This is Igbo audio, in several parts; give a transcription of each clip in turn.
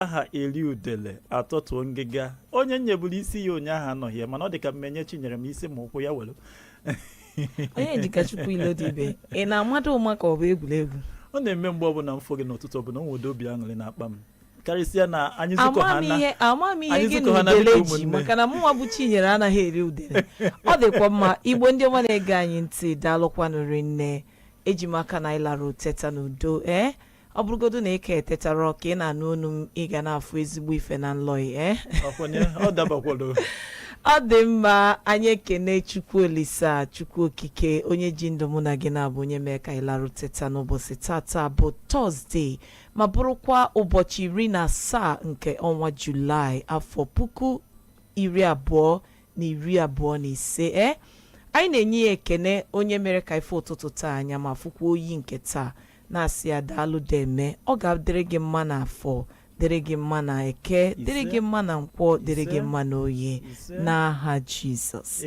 a ga-eri udele atọtuo ngịga onye m nyeburu isi ya ụnyaahụ anọghị ya mana ọ dị ka mmenye chinyere ma isi ma ụkwụ ya were onyedịkachukwu ilodibe ị na-amado ụma ka ọ bụ egwuregwu ọ na-eme mgbe ọbụla m fụ gị n'ụtụtụ ọbụla o nwede obi aṅụrị na-akpa m karịsịa na anyị zukọ ha na ama m ihe anyị gị zukọ na ha na udele dịka ji ụmụnne. maka na mụnwa bụ chinyere anaghị eri udele ọ dịkwa mma igbo ndị ọma na-ege anyị ntị daalụkwanụ rinne eji m aka na anyị lara teta n'udo ee ọ bụrụgodu na ị ka etetarọ ka ị na-anụ onu m ị ga na-afụ ezigbo ife na nlọ ee ọkwenye ọ dabakwado ọ dị mma anyị ekene chukwu olisa chukwu okike onye ji ndụ mụ na gị na-abụ onye mee ka anyị larụ teta n'ụbọchị taata bụ tọzdee ma bụrụkwa ụbọchị iri na asaa nke ọnwa julaị afọ puku iri abụọ na iri abụọ na ise e anyị na-enye ya ekene onye mere ka ị fụ ụtụtụ taa anya ma fụkwa oyi nke taa na-asị ya daalụ deeme ọ ga-adịrị gị mma na afọ dịrị gị mma na eke dịrị gị mma na nkwọ dịrị gị mma na oye n'aha jizọs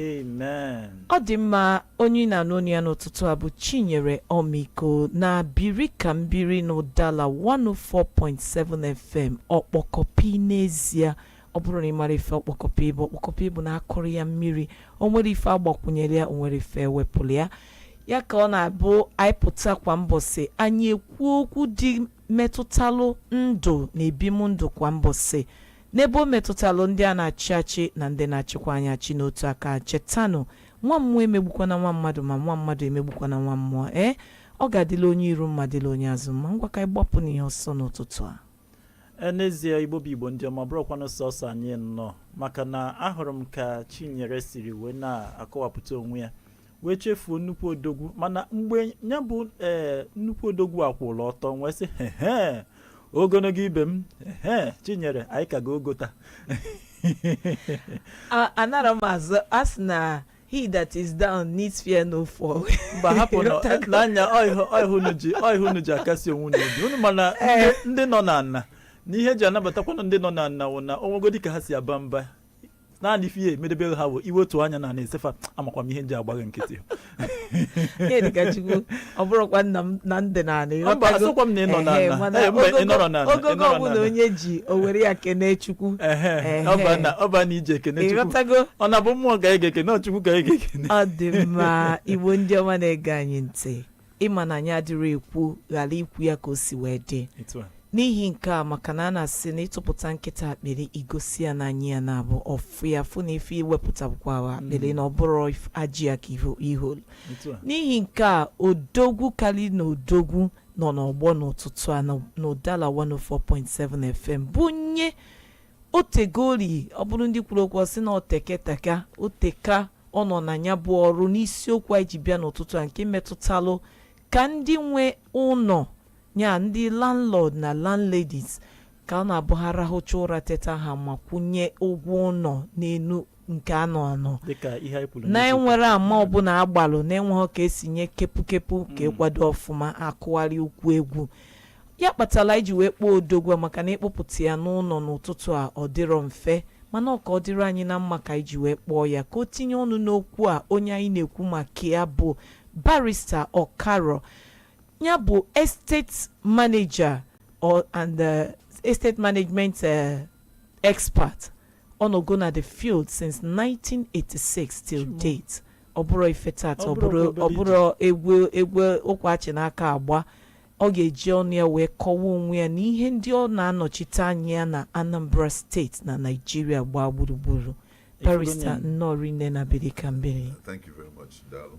ọ dị mma onye ị na-anụ onu ya n'ụtụtụ a bụ chinyere ọmịiko na biri ka m biri na udala 104.7 fm ọkpọkọpi n'ezie ọ bụrụ na ị mara ife ọkpọkọpi bụ ọkpọkọpi bụ na akụrọ ya mmiri o nwerọ ife agbakwunyere ya o nwerọ ife ewepụrụ ya ya ka ọ na-abụ anyị pụta kwa mbọsị anyị ekwuo okwu ndị metụtalụ ndụ na ebim ndụ kwa mbọsị n'ebe o metụtalụ ndị a na-achị achị na ndị na-achịkwa anyị achị n'otu aka chetanụ nwa mmụọ emegbukwana nwa mmadụ ma nwa mmadụ emegbukwana nwa mmụọ ee ọ ga-adịla onye iru mma dịla onye azụ mma ngwa ka anyị gbapụ n'ihe ọsọ n'ụtụtụ a E, n'ezie igbo bụ igbo ndị ọma bụrụkwanụ sọsọ anyị nnọọ maka na ahụrụ m ka chinyere siri wee na-akọwapụta onwe ya wee chefuo nnukwu odogwu mana mgbe ya bụ ee eh, nnukwu odogwu akwụla ọtọ wee sị hehe ogologo ibe m ehe chinyere anyị ka ga ogota anara m azụ a sị na he that is down needs fear no fall mba hapụ na ya wụ ihe unu ji akasi onwe unu obi unu mana eh. ndị nọ n'ana na ihe eji anabatakwanụ ndị nọ n'ana wụ na o nwegodi ka ha si aba mba naanị ife ihe emedebere ha bụ iwetu anya n'ana ese fa amakwa m ihe m ji agbaghị nkịtị ọ bụrụkwa nna m na ndị naanị Mba, ịghọtago? asịkwa m na ị nọ n'ala. Ehe, mana Ee, mba, ị ogogo- nọrọ n'ala, ị ogogo nọrọ ọbụla n'ala. onye ji o were ya kene chukwu Ehe, Ehe. ọ bụ na- ọ bụ na ije ekene Chukwu. ịghọtago ọ na-abụ mmụọ ka anyị ga-ekene ọ Chukwu ka anyị ga-ekene ọ dị mma igbo ndị ọma na-ege anyị ntị ị ma na anyị adịrị ekwu ghara ikwu ya ka o si wee dị Etu a. n'ihi nke a maka na a na-asị na ị tụpụta nkịta akpịrị i gosi ya n'anya ya na-abụ ọ fụ ya fụ na ife i wepụta bụkwa akpịrị na ọ bụrọ if- ajị ya ka i ho- i holu Otu a. n'ihi nke a odogwu kali na odogwu nọ n'ọgbọ n'ụtụtụ a na Udala 104.7 FM bụ onye o tego rii ọ bụrụ ndị kwuru okwu sị na o teketa aka o teka ọ nọ na ya bụ ọrụ n'isiokwu anyị ji bịa n'ụtụtụ a nke metụtalụ ka ndị nwe ụlọ ya ndị landlord na landladies ka ọ na-abụ ha rahụcha ụra teta ha amakwụnye ụgwọ ụlọ n'elu nke anọ anọ na enwerọ ama ọbụla agbalụ na enweghị ka esi nye kepukepu ka ịkwado ọfụma akụgharịa ụkwụ egwu ya kpatara eji wee kpọọ odogwu a maka na ịkpọpụta ya n'ụlọ n'ụtụtụ a ọ dịrọ mfe mana ọ ka ọ dịrị anyị na mma ka anyị ji wee kpọọ ya ka o tinye ọnụ n'okwu a onye anyị na-ekwu maka ya bụ barista Okaro ya bụ estate manager or and uh, estate management uh, Expert ọ nọgo na the field since 1986 till date ọ bụrọ ife taata ọ bụrọ egwu ụkwa achị n'aka agba ọ ga-eji ọnụ ya wee kọwa onwe ya na ihe ndị ọ na-anọchite anya ya na Anambra steeti na Naịjirịa gbaa gburugburu barista nnọọ rinne na biri ka m biri Thank you very much, Daalụ.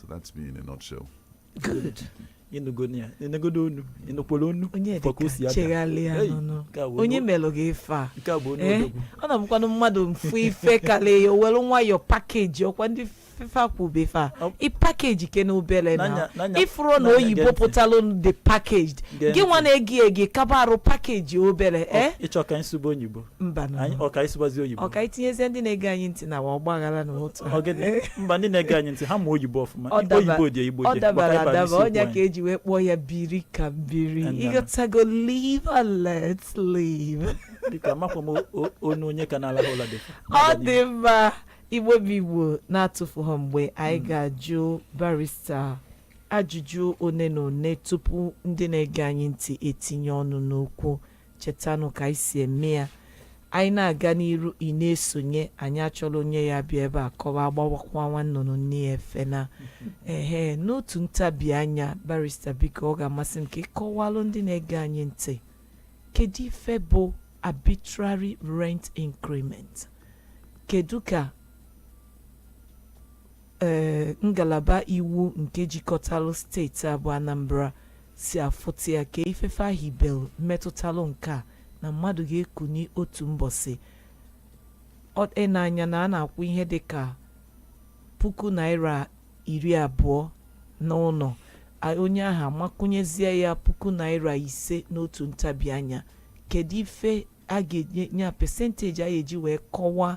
so that's me in a nutshell good ịnụgonu ya ịnụgodo onu ịnụkwara onu onye maka o si dịka ada. chegharịa Hey, nụnụ nke a bụ onye onye- melụ gị ife a nke a bụ onye Ee, odogwu ọ na-abụkwanụ mmadụ mfu ife karịa ya owelu nwayọ pakeji ọkwa ndị fefa kwube fa Ọ- i pakeji ke na obere na N'anya- n'anya- ifuru na n'anya oyibo gee ntị. pụtalụ the packaged Gee gị nwa ntị. na-egi egi kaba arụ pakeji obere eh? ịchọ ka nsụbe onyibo mbanụ anyị ọka ịsụbazi oyibo ọka itinyezie ndị na-ege anyị ntị na wa ọgbaghara na otu a. mba ndị na-ege anyị ntị ha ma oyibo ọfụma oyibo dị igbo dị ọ dabara adaba ọ nya ka eji wee kpọọ ya biri ka m biri ịghọtago live and let live biko amakwa m o- o- onu onye ka na-alahụ ụla dị ọ dị mma igbo bụ igbo na-atụfughọ mgbe anyị ga-ajụ barista ajụjụ one na one tupu ndị na-ege anyị ntị etinye ọnụ n'okwu chetanụ ka anyị si eme ya anyị na-aga n'iru ị na-esonye anyị achọrọ onye ya-abịa ebe a kọwa agbawakwa nwa nnụnụ nne ya efe na ehe n'otu ntabi anya barista biko ọ ga-amasị m ka ị kọwalụ ndị na-ege anyị ntị kedu ife bụ arbitrary rent increment kedu ka ee ngalaba iwu nke jikọtalụ steeti a bụ Anambra si afụta ya ke ife fa hibelụ metụtalụ nke a na mmadụ ga-ekuni otu mbọsị ọ e n'anya na a na-akwụ ihe dị ka puku naira iri abụọ n'ụlọ a- onye ahụ amakwụnyezie ya puku naira ise n'otu ntabi anya kedu ife a ga-enye ya pesenteji a ga-eji wee kọwaa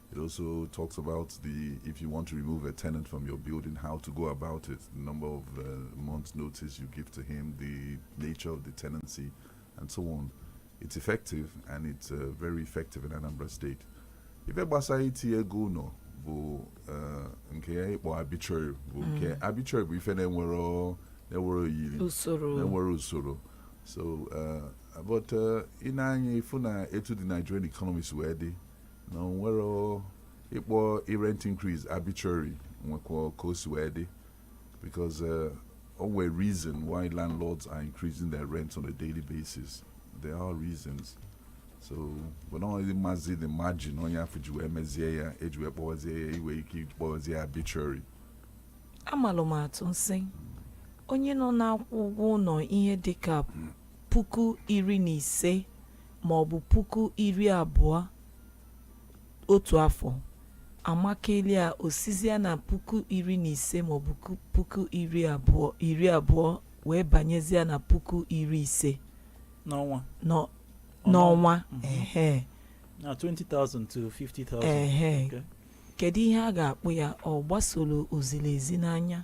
It also talks about the if you want to remove a tenant from your building, how to go about it, the number of uh, months notice you give to him, the nature of the tenancy, and so on. It's effective and it's uh, very effective in Anambra State. Ife gbasara itinye ego ụlọ bụ uh, nke a ị kpọ arbitrary bụ nke mm. arbitrary bụ ife na-enwerọ na-enwerọ oyiri na-enwerọ usoro so uh, but uh, ị nee anya ị fụ na etu the Nigerian economy si wee dị na o nwere o- ịkpọ rent increase arbitrary nwekwa ka o si wee dị because uh, o nwere reason why landlords are increasing their rent on a daily basis there are reasons so but not only mazi the margin onye afụ ji wee mezie ya eji wee kpọwazie ya i nwee ike iji kpọwazie ya arbitrary amalụ m atụ m sị onye nọ na-akwụ ụgwọ ụlọ ihe dịka puku iri na ise ma ọ bụ puku iri abụọ otu afọ amakelia o sizia na puku iri na ise ma ọ bụ puku iri abụọ wee banyezia na puku iri ise n'ọnwa n'ọ- n'ọnwa ehe na 20,000 to 50,000 Ehe. Okay. kedu ihe a ga-akpọ ya ọ gbasoro o ziri ezi n'anya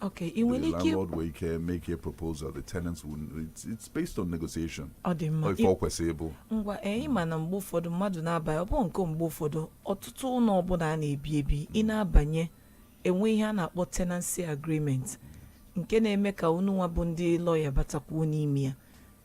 Okay, ị nwere ike landlord nwere ike make a proposal the tenants will it's, it's based on negotiation ọ dị mma ife ọ kwesịrị ịbụ ngwa ee ịma na mgbe ụfọdụ mmadụ na-abanye ọ bụghị nke mgbe ụfọdụ ọtụtụ ụlọ ọbụla a na-ebi ebi ị na-abanye e nwe ihe a na-akpọ tenancy agreement nke na-eme ka unu nwa bụ ndị lọya batakwuo n'ime ya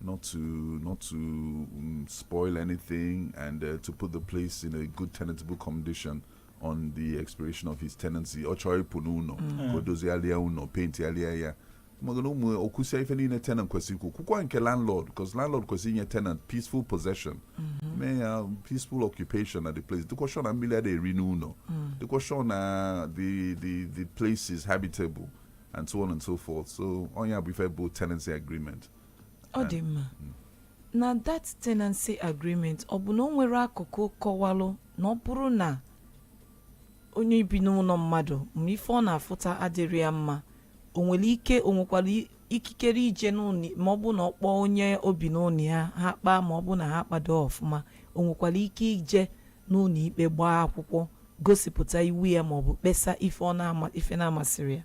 not to not to um, spoil anything and uh, to put the place in a good tenantable condition on the expiration of his tenancy ọ chọrọ ịpụ n'ụlọ ka o dozigharịa ụlọ pentigharịa ya maka na ụmụ o kwusia ife niile tenant kwesịrị ikwu kwukwa nke landlord because landlord kwesịrị inye tenant peaceful possession nye ya peaceful occupation at the place dịkwa sure na mmiri ada eri n'ụlọ dịkwa sure na the the the place is habitable and so on and so forth so ọ nya bụ ife bụ tenancy agreement ọ dị mma na that tenancy agreement ọ bụ na o nwere akụkụ kọwalụ na ọ bụrụ na onye bi n'ụlọ mmadụ ma ife ọ na-afụta adịrọ ya mma o nwere ike o nwekwara ikikere ije n'ụlọ ma ọ bụ na ọ kpọọ onye o bi n'ụlọ ya ha kpaa ma ọ bụ na ha akpado ọfụma o nwekwara ike ije n'ụlọ ikpe gbaa akwụkwọ gosipụta iwe ya ma ọ bụ kpesa ife na-amasịrọ ya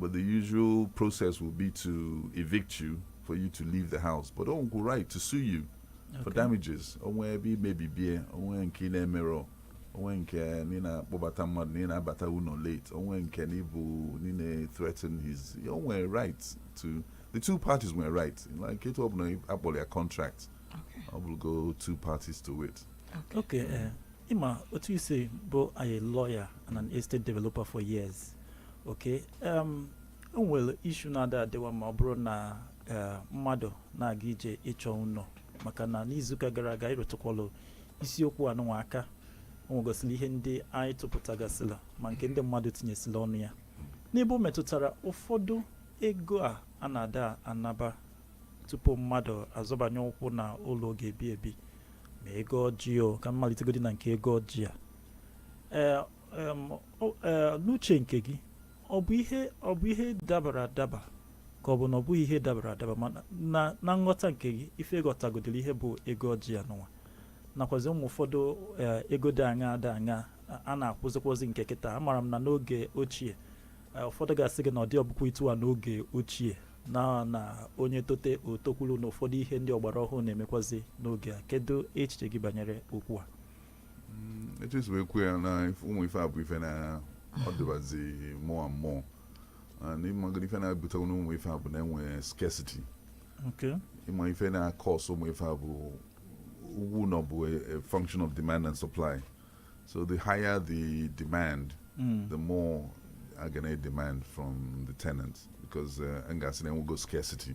But the usual process will be to evict you for you to leave the house. But o nwego right to sue you okay. for damages. O nwee ebe i mebiri ihe, o nwee nke ị na-emerọ, o nwee nke ị na na-akpọbata mmadụ na ị na-abata ụlọ late, o nwee nke na ị bụ na na-threaten his, o nwere right to, the two parties nwere right. Like etu ọ bụla akpọrọ ya contract, e nwego two parties to it. Okay. okay uh, Ị ma, otu i si bụ a lawyer and an estate developer for years. okay em, o nwere issue na-ada adịwa ma ọ bụrụ na eh, mmadụ na-aga ije ịchọ ụlọ maka na n'izuụka gara aga anyị rụtụkwalụ isiokwu anụnwa aka o nwegosịrị ihe ndị anyị tụpụtagasịla ma nke ndị mmadụ tinyesịla ọnụ ya n'ebe o metụtara ụfọdụ ego a a na-ada anaba tupu mmadụ azọbanye ụkwụ na ụlọ ọ ga-ebi ebi ma ego ọjị o ka m malitegodi na nke ego ọjị a ee e, n'uche nke gị ọ bụ ihe ọ bụ ihe dabara adaba ka ọ bụ na ọ bụghị ihe dabara adaba na nghọta nke gị ife ị ghọtagodoro ihe bụ ego ọjị anụnwa nakwazi ụmụ ụfọdụ e, ego dị aṅa dị aṅa a na-akwụzikwazi nke kịta amara m na n'oge ochie e, ụfọdụ ga-asị gị na ọ dịhọbukwa etu a n'oge ochie na na onye tote o tokwuru na ụfọdụ ihe ndị ọgbara ọhụrụ na-emekwazi n'oge a kedu echiche gị banyere okwu a etu i si wee kwuo ya na if- ụmụ ife a bụ ife na ọ dịbazi more and more and ị magoro ife na-ebute na ụmụ ife a bụ na enwe scarcity Okay. ị ma ife na-cause ụmụ ife a bụ ugwu na ọ bụ a, a function of demand and supply so the higher the demand Mm. the more a ga na-demand from the tenants because uh, a ga-asị na enwego scarcity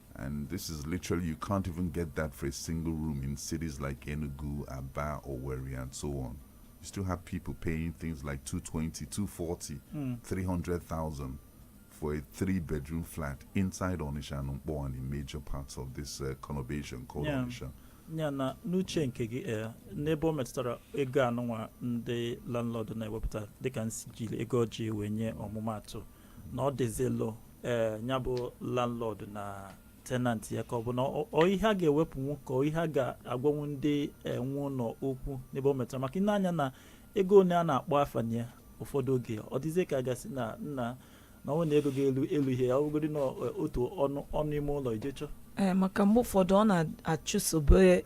And this is literally, you can't even get that for a single room in cities like Enugu, Aba, Owerri, and so on. You still have people paying things like 220, 240, mm. 300,000 for a three bedroom flat inside Onitsha and Nkpor and in major parts of this uh, conurbation called yeah. Onitsha. ya na n'uche nke gị eh, n'ebe o metụtara ego anụnwa ndị landlord na-ewepụta dịka m si jiri ego ọjị wee nye ọmụmatụ na ọ dịzi elu ee ya bụ landlord na tenant ya ka ọ bụ na ọ- ọ ihe a ga-ewepụnwu ka ọ ihe a ga-agwanwu ndị eh, nwe ụlọ okwu n'ebe o metụtara maka i nee anya na ego one a na-akpọ afa na ya ụfọdụ oge ọ dịzie ka a ga-asị na nna na ọ bụ na ego ga-elu elu ihe ya ọ bụgodị na eh, otu ọnụ ọnụ ime ụlọ i je chọ Ee, maka mgbe ụfọdụ ọ na-achụsobe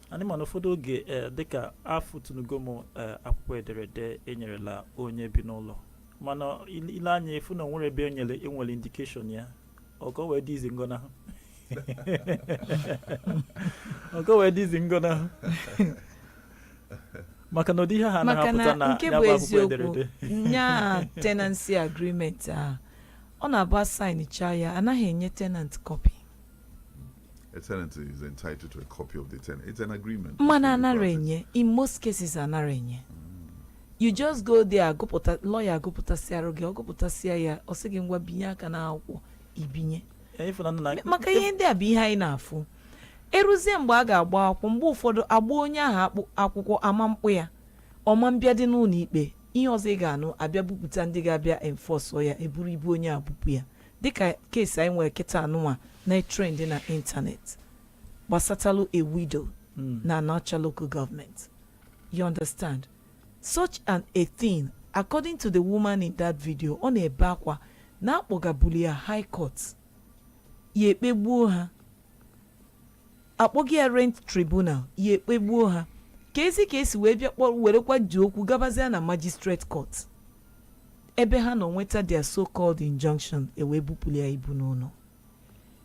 anyị ma na ụfọdụ oge ee dịka afụtụnugo m ee akwụkwọ ederede enyerela onye bi n'ụlọ mana ile ile anya ị fụ na onwere ebe enyere enwere indication ya ọ ka o wee dị easy ngọnahụ ọ ka o wee dị easy ngọnahụ maka na ụdị ihe ha maka na-apụta na nke ya bụ bụ akwụkwọ eziokwu ederede nya tenancy agreement a ọ na-abụ a signịcha ya anaghị enye tenant copy mana anarọ enye in most cases anarọ enye you just go there agụpụta lọya agụpụtasịarụ gị ọ gụpụtasịa ya ọ sị gị ngwa binye aka n'akwụkwọ i binye maka ihe ndị a bụ ihe anyị na-afụ eruzie mgbe a ga-agba akwụkwọ mgbe ụfọdụ agba onye ahụ akwụkwọ ama mkpọ ya ọ ma mbịadị n'ụlọ ikpe ihe ọzọ ị ga-anụ abịa bupụta ndị ga-abịa enforce ya eburu ibu onye a bupụ ya Dịka case anyị nwere kịta anụnwa na-etrend na internet gbasatalụ a widow na Anaocha local government. You understand? Such an a thing, according to the woman in that video, ọ na-ebe akwa na akpọgabuli ya high court ya ekpegbuo ha akpọga ya rent tribunal ya ekpegbuo ha ka ezi ka esi wee bịa werekwa ji okwu gabazia na magistrate court ebe ha nọ nweta their so called injunction ewee bupụrụ ya ibu n'ụlọ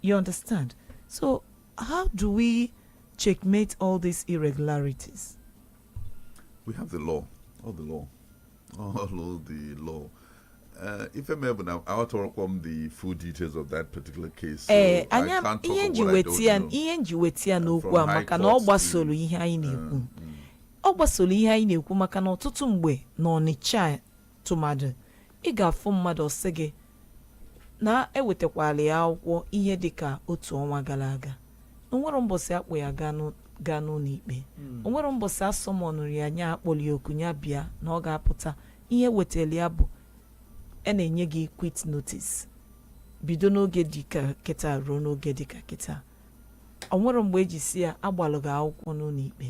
you understand so how do we checkmate all these irregularities we have the law all the law All the law. Uh, if I'm able now, I want to work on the full details of that particular case. So eh, I can't talk ihe m ji weta ya ihe m ji weta ya n'okwu a maka na ọ gbasoro ihe anyị uh, na-ekwu mm. ọ gbasoro ihe anyị na-ekwu maka na ọtụtụ mgbe na ọnịcha tụmadụ ị ga-afụ mmadụ ọ sị gị na ewetakwala ya akwụkwọ ihe dị ka otu ọnwa gara aga onwere mbọsị akpọ ya gaa n'ụlọ ikpe hmm. onwere mbọsị a summonụrụ ya nya akpọlị ya oku nya bịa na ọ ga-apụta ihe ewetara ya bụ a na-enye gị quit notice bido n'oge dịka kịta ruo n'oge dịka kịta ọ nwere mgbe eji sị ya agbalụ gị akwụkwọ n'ụlọ ikpe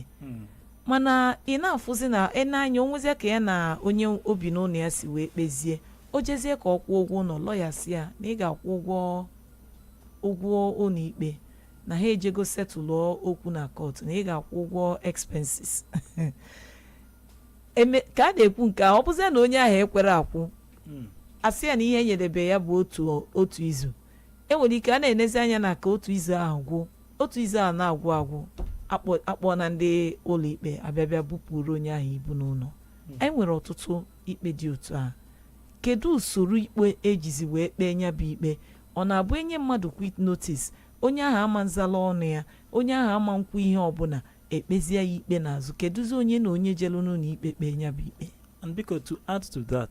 mana ị na-afụzi na n'anya onwezia ka ya na onye o bi n'ụlọ ya si wee kpezie o jezie ka ọ kwụọ ụgwọ ụlọ lọya sị ya na ị ga-akwụ ụgwọ ụgwọ ụlọ ikpe na ha ejego setụlụọ okwu na court na ị ga-akwụ ụgwọ expenses eme ka a na-ekwu nke a ọ bụzie na onye ahụ ekwere akwụ asị ya na ihe enyedebe ya bụ otu otu izu E nwere ike a na-enezi anya na ka otu izu ahụ gwụ otu izu ahụ na-agwụ agwụ akpọ- akpọọ na ndị ụlọikpe abịa bịa bupụrụ onye ahụ ibu n'ụlọ anyị nwere ọtụtụ ikpe dị otu a kedu usoro ikpe e jizi wee kpee nya bụ ikpe ọ na-abụ e nye mmadụ quit notice onye ahụ ama nzala ọnụ ya onye ahụ ama nkwu ihe ọbụla e kpezie ya ikpe n'azụ keduzi onye na onye jelu n'ụlọ ikpe kpee nya bụ ikpe And biko to add to that,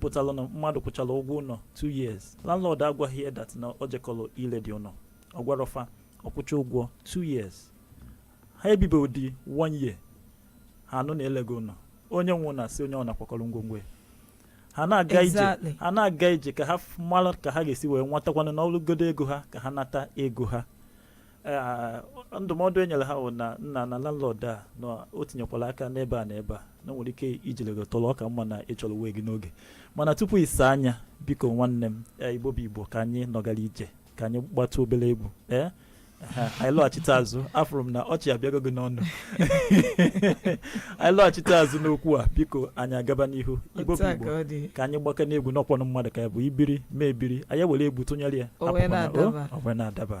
pụtara na mmadụ kwụchara ụgwọ ụlọ 2 years landlord agwaghị ya that na ọ jekọrọ iledị ụlọ ọ gwarọ fa ọ kwụcha ụgwọ 2 years ha ebibe ụdị 1 year ha anụ na e lego ụlọ onye nwe ụnọ asị onye ọbụna kwakọrọ ngwongwo ya ha na-aga ije ha na-aga ije ka ha mara ka ha ga-esi wee nwetakwanụ ọ bụlụgodu ego ha ka ha nata ego ha Eh, ndụmọdụ e nyere ha bụ na nna na landlord a na o tinyekwala aka n'ebe a na ebe a na nwere ike ijele gị tọrọ ọ ka mma na ị chọrọ way gị n'oge mana tupu ị saa nya biko nwanne m eh, igbo bụ igbo ka anyị nọgara ije ka anyị gbatụ obere egwu ee eh, anyị lọghachite azụ afụrụ m na ọchị abịago gị n'ọnụ anyị lọghachite azụ n'okwu a biko anyị agaba n'ihu igbo bụ igbo ka anyị gbakene egwu n'ọkpọnụ mmadụ ka ya bụ i biri m ebiri anyị were egwu tụnyere ya ọ wee na-adaba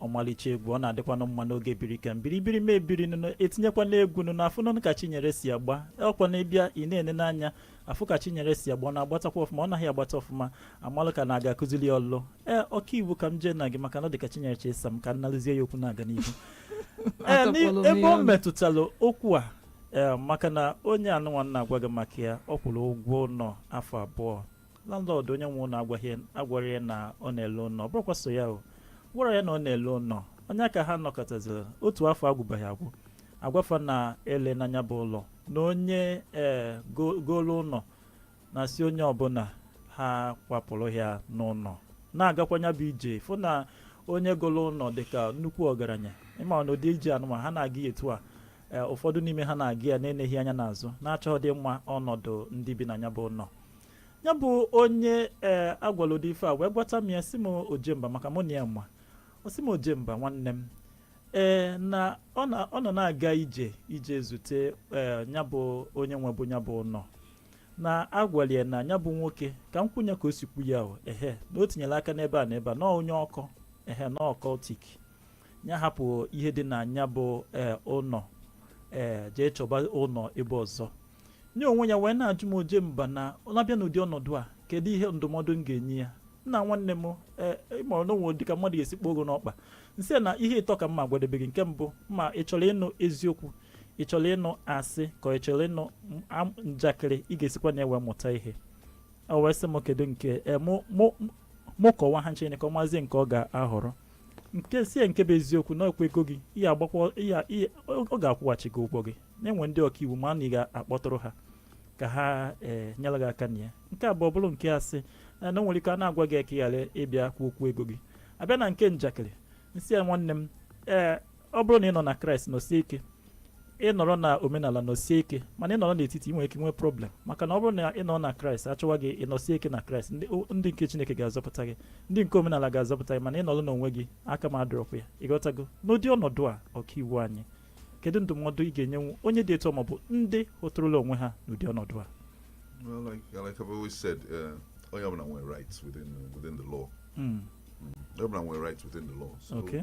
ọmalịcha egwu ọ na-adịkwanụ mma n'oge biri ka m biri biri m ebiri nụnụ etinyekwana egwu nụnụ afụ nụnụ ka chinyere si agba ọ kwa na ị bịa ị na-ene n'anya afụ ka chinyere si agba ọ na-agbatakwa ọfụma ọ naghị agbata ọfụma a malụ ka na-aga akụzili ọlụ ee ọka iwu ka m jee na gị maka na ọ dị ka chinyere chọ ịsa m ka m nalụzie ya okwu na-aga n'ihu ee Atọpụlụ m ebe ihe ọ ọnụ. metụtara okwu a ee maka na onye anụnwa m na-agwa gị maka ya ọ kwụrụ ụgwọ ụlọ afọ abụọ landlord onye nwe ụlọ agwarọ ya na ọ na-ele ụlọ ọ bụrọkwa sọ ya ọ gwarọ ya na ọ na-ele ụlọ onye a ka ha nọkatazịrị otu afọ agwụbaghị agwụ a gwa fa na e lena nya bụ ụlọ na onye ee eh, golu ụlọ na-asị onye ọbụla ha kwapụrụ ya n'ụlọ na-agakwa nya bụ ije fụ na onye golu ụlọ dịka nnukwu ọgaranya ị ma na ụdị ije anụnwa ha na-aga etu a Ee, ụfọdụ n'ime ha na-aga ya na-eneghị anya n'azụ na-achọghịdị ịma ọnọdụ ndị bi na ya bụ ụlọ ya bụ onye ee a gwala ụdị ife a wee gwata m ya sị m ojemba maka mụ na ya ma ọ sị m ojemba nwanne m ee na ọ na- ọ nọ na-aga ije ije zute ee ya bụ onye nwebu ya bụ ụlọ na a gwala ya na ya bụ nwoke ka m kwuo nya ka o si kwu ya o ehe na o tinyere aka n'ebe a na ebe a na onye occult ehe na occultic ya hapụ ihe dị na nya bụ eh, ụlọ ee eh, jee chọba ụlọ ebe ọzọ nye onwe ya wee na-ajụ m ojemba na ọ na-abịa n'ụdị ọnọdụ a kedu ihe ndụmọdụ m ga-enye ya nna nwanne m eh, ịmọrọ n'onwe dị ka mmadụ ga-esi kpọọ ogo n'ọkpa nsị na ihe ịtọ ka m ma-agwadebe gị nke mbụ ma ị chọrọ ịnụ eziokwu ị chọrọ ịnụ asị ka ị chọrọ ịnụ njakịrị ị ga-esikwa na ya wee mụta ihe o wee sị m kedu nke mụ kọwa ha ncha ka ọ mazie nke ọ ga-ahọrọ nke sị ya nke bụ eziokwu na okwu ego gị ihe agbakwa ihe ihe ọ ga-akwụghachi gị ụgwọ gị na e nwe ndị ọkaiwu ma na ị ga-akpọtụrụ ha ka ha ee nyere gị aka na ya nke abụọ bụrụ nke asị na o nwere ike a na-agwa gị ka ị ghara ịbịa kwuo okwu ego gị abịa na nke njakịrị nsị ya nwanne m ee ọ bụrụ na ị nọ na kraịst nọsie ike ị nọrọ na omenala nọsie ike mana ị nọrọ n'etiti ị nwere ike nwee problem maka na ọ bụrụ na ị nọ na kraịst achọwa gị ị nọsie ike na kraịst ndị nke chineke ga-azọpụta gị ndị nke omenala ga-azọpụta gị mana ị nọrọ n'onwe gị aka m adịrọkwa ya ịghọtago n'ụdị ọnọdụ a ọkaiwu anyị kedu ndụmọdụ ị ga-enyenwu onye dị etu a maọbụ ndị hụtụrụla onwe ha n'ụdị ọnọdụ a Well, like, like I've always said, uh, onye ọbụla nwere rights within, within the law. Mm. Mm. Onye ọbụla nwere rights within the law. So okay.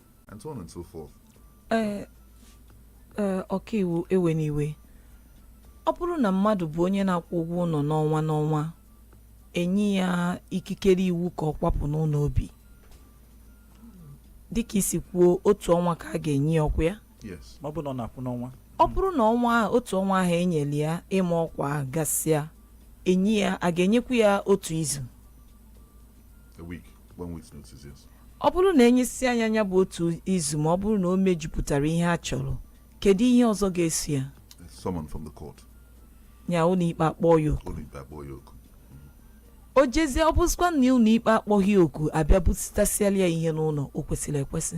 and so on and so forth. Eh, eh, ọkaiwu ewena iwe ọ bụrụ na mmadụ bụ onye na-akwụ ụgwọ ụlọ n'ọnwa n'ọnwa enye ya ikikere iwu ka ọ kwapụ n'ụlọ o bi dịka i si kwuo otu ọnwa ka a ga-enye ya ọkwa ya ọ bụrụ na ọnwa otu ọnwa ahụ enyere ya ịma ọkwa gasịa enye ya a ga-enyekwu ya otu izu Ọ bụrụ na enyesịa ya nya bụ otu izu ma ọ bụrụ na o mejupụtara ihe a chọrọ kedu ihe ọzọ ga-eso ya ya ụlọikpe akpọọ ya oku o jezie ọ bụzikwa na ụlọikpe akpọghị ya oku abịa busitasịala ya ihe n'ụlọ o kwesịrị ekwesị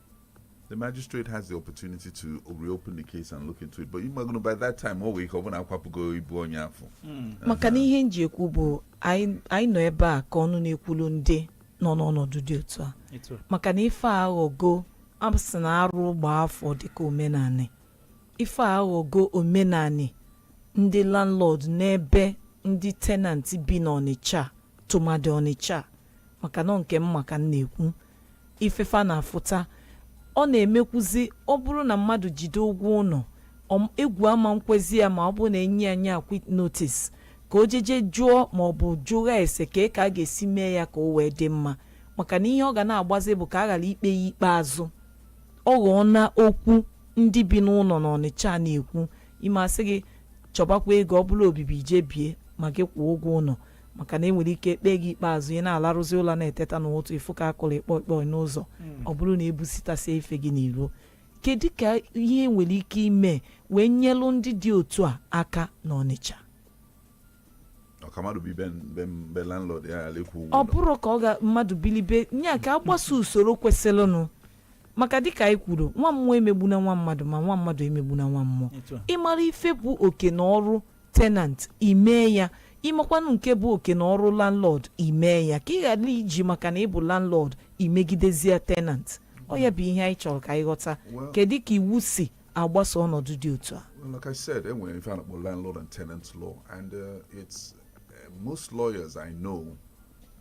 the magistrate has the opportunity to reopen the case and look into it but ị magonụ by that time o nwee ike ọ bụlụ akwapụgo ibu onye afụ maka na ihe nji ekwu bụ anyị anyị nọ ebe a ka ọnụ na-ekwulu ndị nọ n'ọnọdụ dị otu a etu a maka na ife a aghọgo asị na arụ gbaa afọ dịka omenanị ife a aghọgo omenanị ndị landlord n'ebe ndị tenant bi n'ọnịcha tụmadị ọnịcha maka na nke m ma ka m na-ekwu ife fa na-afụta ọ na-emekwuzi ọ bụrụ na mmadụ jide ụgwọ ụlọ egwu ama-ekwezi ya ma ọ bụrụ na enye ya quit notice ka o jeje jụọ ma ọ bụ jụa ese ka e ka a ga-esi mee ya ka o wee dị mma maka na ihe ọ ga na-agbazi bụ ka a ghara ikpe ya ikpe azụ ọ ghọọ na okwu ndị bi n'ụlọ na ọnịcha na-ekwu ime asị gị chọbakwa ebe ọ bụla obibi jee bie ma gị kwụọ ụgwọ ụlọ maka na enwere ike kpee gị ikpe azụ ị na-alarụzi ụla na-eteta n'ụtụtụ ịfụ ka akụrụ ịkpọ ịkpọ n'ụzọ hmm. ọ bụrụ na ebusitasie ife gị n'iro kedu ka ihe nwere ike ime wee nyelụ ndị dị otu a aka n'Ọnịcha ọ bụrụ ka ọga mmadụ bili be nya ka agbaso usoro kwesịrịnụ maka dịka anyị kwuru nwa mmụọ emegbuna nwa mmadụ ma nwa mmadụ emegbuna nwa mmụọ ịmara ife bụ oke na ọrụ tenant imee ya ịmakwanụ nke bụ oke na ọrụ landlord imee ya ka ị ghara iji maka na ị bụ landlord imegidezie tenant ọ ya bụ ihe anyị chọrọ ka anyị ghọta Well- kedu ka iwu si agbasa ọnọdụ dị otu a Well, like I said, enwere ife a na-akpọ landlord and tenant law, and uh, it's uh, most lawyers I know,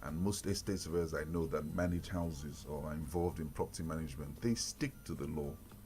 and most estate surveyors I know that manage houses or are involved in property management, they stick to the law.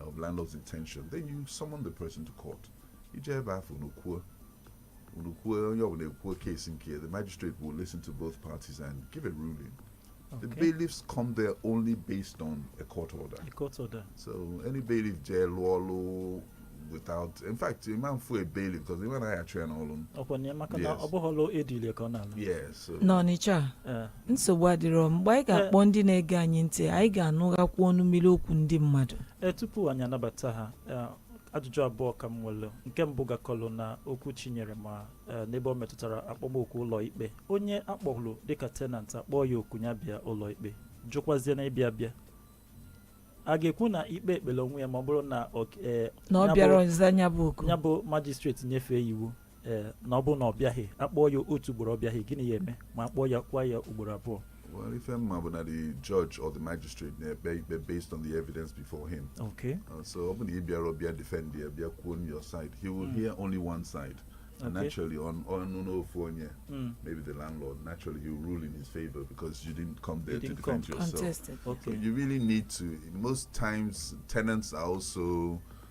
of landlord's intention then you summon the person to court ije ebe afụ unu kwuo unu kwuo onye ọbụla ekwuo case nke ya, the magistrate will listen to both parties and give a ruling the Okay. bailiffs come there only based on a court order A court order. so any bailiff jee lụọ ọlụ without in fact ị ma-afụ a bailiff because ịma na a ya-achụ ya n'ọlụ ọkwa na ya maka na Yes. ọ bụghị ọlụ ezili ya ka ọ na-alụ yes so n'ọnịcha a Eh, nsogbu adịrọ mgbe anyị ga-akpọ ndị na-ege anyị ntị anyị ga-anụghakwu ọnụ mmiri okwu ndị mmadụ ee tupu anyị anabata ha ee, ajụjụ abụọ ka m nwere nke mbụ gakọlụ na okwu Chinyere ma ee, n'ebe ọ metụtara akpọmoku ụlọ ikpe onye akpọhụrụ dịka tenant akpọọ ya oku ya bịa ụlọ ikpe jụkwazie na ịbịa bịa a ga-ekwu na ikpe ekpere onwe ya ma ọ bụrụ na ọ- ee, na ọ ya bụ- bịarọzị ịza nya bụ oku ya bụ majistreti nyefee iwu ee na ọ bụrụ na ọ bịaghị akpọọ ya otu ugboro ọ bịaghị gịnị ya-eme ma akpọọ ya kwa ya ugboro abụọ Well, ife m ma bụ na the judge or the magistrate na-ekpe ikpe based on the evidence before him. okay Uh, so ọ bụ na ị bịarọ bịa defend ya bịa kwuo on your side he will hear only one side and Okay. naturally ọ nụ ọnụ n'ofu onye Mm. maybe the landlord naturally he will rule in his favor because you didn't come there to didn't defend come. yourself Contested. So okay you really need to most times tenants are also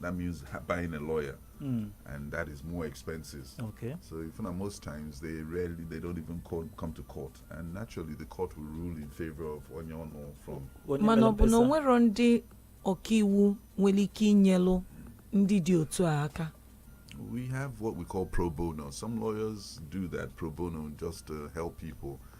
that means ha- buying a lawyer, Mm. and that is more expenses. Okay. So if not, most times they rarely they don't even call, come to court, and naturally the court will rule in favor of onye ọ nụ from Onye mana ọ bụ na o mkpesa. nwerọ ndị ọkaiwu nwere ike inyelụ ndị dị otu a aka We have what we call pro bono. Some lawyers do that pro bono just to help people.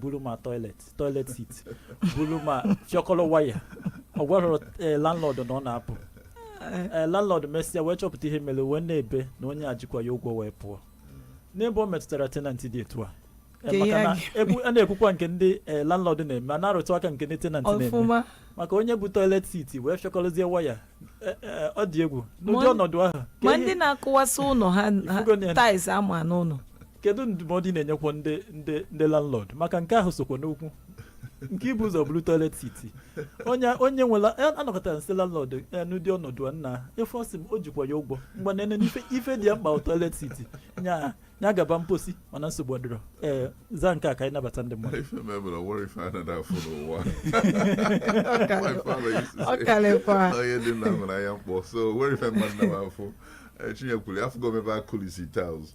buru ma toilet toilet seat buru ma fịọkọrọ waya ọ gwarọ eh, landlord na ọ na-apụ Eh, Eh, landlord mesịa wee chọpụta ihe mere wee na-ebe na onye a jikwa ya ụgwọ wee pụọ n'ebe ọ metụtara tenant dị etu a Eh, Ka maka ihe na gị- ekwu- a na-ekwukwa nke ndị eh, landlord na-eme a na-arụtụ aka nke ndị tenant na-eme ọfụma maka onye bu toilet seat wee fịọkọrọzie waya Eh, eh, ọ dị egwu n'ụdị Ma- ọnọdụ ahụ ka ma ihe- ndị na-akụwasị ụlọ ha Ịfụgo na- tiles ama n'ụlọ kedu ndụmọdụ ị na-enyekwa ndị ndị ndị landlord maka nke ahụ sokwa n'okwu nke ibu ụzọ buru toilet seat onye onye nwela a- anọkọtara nsị landlord ya n'ụdị ọnọdụ a nna ife ọ sị m o jikwa ya ụgwọ mgbe na ene ife ife dị ya mkpa bụ toilet seat nya nya gaba mposi mana nsogbu adịrọ ee zaa nke a ka anyị nabata ndị mmadụ Ife mebụrụ nwere ife a na-ada afụ n'ụwa. My father used to ọ say, kalịkwa "Ọ ihe dị nna nwere anya mkpọ so nwere ife mmadụ na-afụ Eh, Chinye kwuru afụgo m ebe a kulisi tiles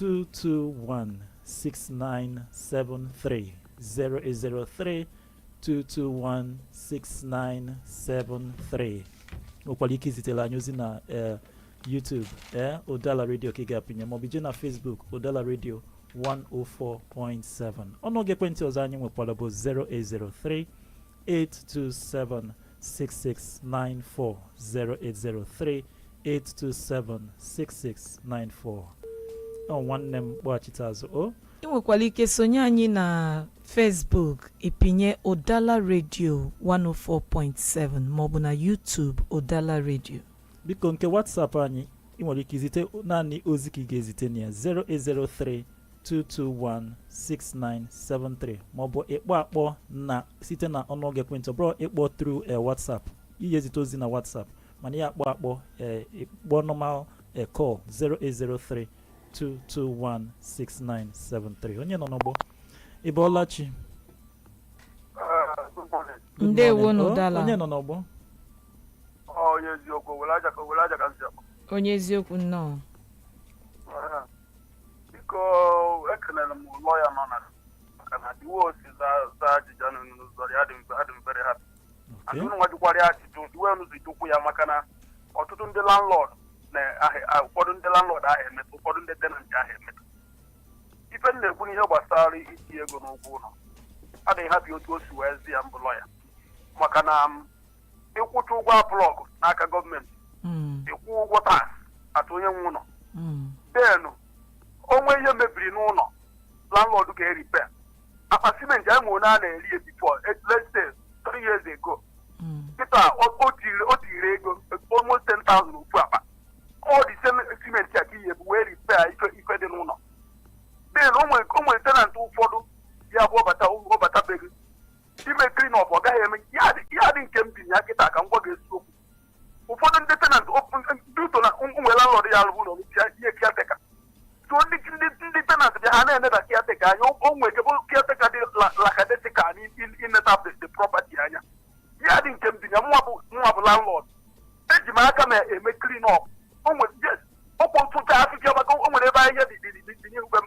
221-6973 08032216973 nwekwara ike izitere anyị ozi na eh, YouTube eh, Udala Radio ka ị ga-apịnye maọbụ ije na Facebook Udala Radio 104.7 ọnụọgụ ekwentị ọzọ anyị nwekwara bụ 0803 8276694 08038276694 ọ nwanne m kpọghachite azụ o ị nwekwara ike sonye anyị na facebook ị pịnye ụdala redio 104.7 maọbụ na youtube ụdala redio biko nke whatsapp anyị ị nwere ike izite naanị ozi ka ị ga-ezite na ya 0803 2216973 maọbụ ịkpọ akpọ na site na ọnụọgụ ekwentị ọ bụrọ ịkpọ through eh, WhatsApp ị ya-ezite ozi na WhatsApp mana ị ya-akpọ akpọ eh, ịkpọ normal eh, call 0803 2216973 onye nọ n'ọgbọ ị bọọla chi Good morning. Good Ndewo morning. na Oh, ụdala. onye nọ n'ọgbọ Ọ onye eziokwu, Owelle Aja ka Owelle Aja ka m si akpọ. onye eziokwu nnọọ Aha. biko ekelere m lọya nọ na maka na the way o si za ajụjụ ahụ n'ụzọ ya dị mfe adị m very happy Okay. unu nwa jụkwara ya ajụjụ the way unu si jụkwu ya maka na ọtụtụ ndị landlord na ahị- ah, ụfọdụ ndị landlord ahụ emeta ụfọdụ ndị tenant ahụ emeta ife m na-ekwu n'ihe gbasara iti ego n'ụgwọ ụlọ adị m happy otu o si wee za ya m bụ lọya maka na m ịkwụcha ụgwọ approval n'aka gọọmenti Mm. ịkwụ ụgwọ tax a tụ onye nwe ụlọ Mm. then o nwee ihe mebiri n'ụlọ landlord ga-arepair akpa simenti anyị nwere a na-ere ya before eh, let's say three years ago Mm. kịta o- o tiri o tiri ego almost 10,000 ofu akpa all the same simenti a ka ị ya-ebu wee repair ife ife dị n'ụlọ then o nwere o nwere tenant ụfọdụ ya bụ ọ bata ọ bata be gị ime clean up ọ gaghị eme ya dị ya dị nke m bi na ya kịta ka m gwa gị eziokwu ụfọdụ ndị tenant due to na e nwere landlord ya-alụ ụlọ bịa nye caretaker so ndị ndị ndị tenant bịa ha na-eneda caretaker anya o nwere ike bụrụ caretaker dị la- lackadaisical na ineta the the property anya ya dị nke m bi na ya mụnwa bụ mụnwa bụ landlord eji m aka m eme clean up o nwere yes, ọ kwụ ntụcha afịfịa maka o nwere ebe ahịhịa dị dị dị dị n'ihu be m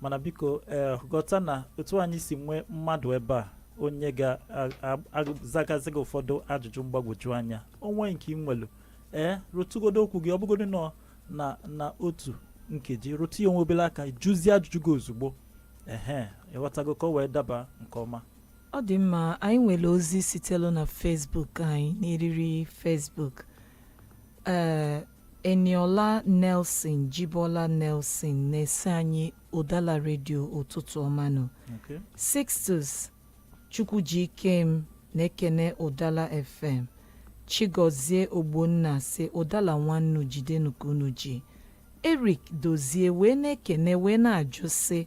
mana biko ee ghọta na otu anyị si nwee mmadụ ebe a onye ga-azagazi gị ụfọdụ ajụjụ mgbagwoju anya o nwee nke ị nwelu ee rụtụgodo okwu gị ọ bụgodu nọ na na otu nkeji rụtụ ya onwe obele aka jụzie ajụjụ gị ozugbo ehe ịghọtago ka o wee daba nke ọma ọ dị mma anyị nwere ozi sitelu na Facebook anyị n'eriri Facebook ee Eniola Nelson Jibola Nelson na-asị anyị Ụdala redio ụtụtụ ọma nụ. Okay. Sixtus Chukwujikem na-ekene Ụdala FM. Chigozie Ogbonna sị Ụdala unu jidenụ ka unu ji. Eric Dozie wee na-ekene wee na-ajụ sị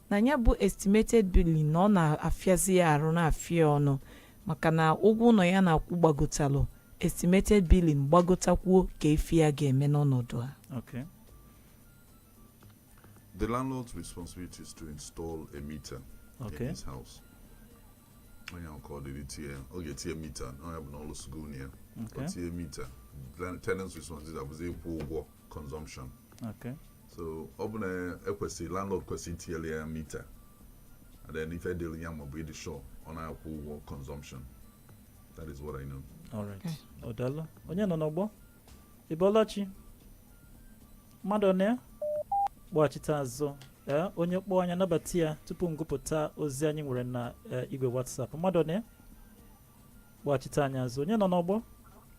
na ya bụ estimated billing na ọ na-afịazi ya arụ na-afịa ọnụ maka na ụgwọ ụnọ ya na-akwụ gbagotalụ estimated billing gbagotakwuo kee ife ya ga-eme n'ọnọdụ a Okay. The landlord's responsibility is to install a meter Okay. in his house. Onye ahụ ka ọ dịrị tie, ọ ga-etinye mita, onye bụ na ọ lụsịgo ụlọ ya. Ọ Okay. tinye mita. Then Tenant's responsibility abụzi ịkwụ ụgwọ consumption. Okay. so ọ bụ na ekwesịrị landlord kwesịrị itinyere ya mita and then ife dịrị ya bụ ịdị sure ọ na-akwụ ụgwọ consumption that is what I know All right. ọ daalụ onye nọ n'ọgbọ ị bọọla chi mmadụ na ya kpọghachite azụ ee onye kpọọ anyị anabata ya tupu m gụpụta ozi anyị nwere na eh, igwe WhatsApp mmadụ na ya kpọghachite anyị azụ onye nọ n'ọgbọ